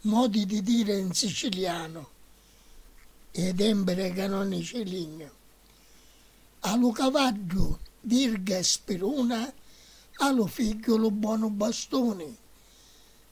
Modi di dire in sicilianu e dembere ca non ni ci lignu. A lu cavaddu virga e spiruna, a lu figghiu lu bonu bastuni.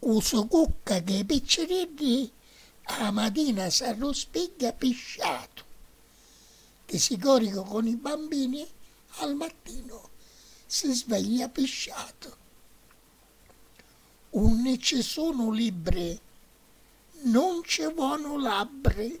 U so cucca dei picciriddi a la matina s'arruspigghia pi sciatu, di sigoricu con i bambini al mattino si sveglia pi sciatu. Unni ci sunu libbri nun ci vonu labbri.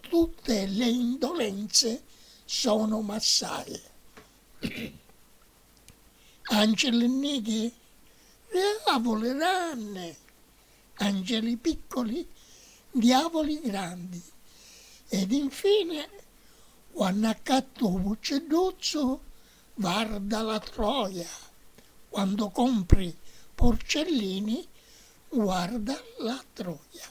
Tutte le indolenze sono massari. Angeli nighi diavoli ranni, angeli piccoli diavoli grandi, ed infine quannu accattu u vuccidduzzu varda la troia, quando compri porcellini guarda la troia.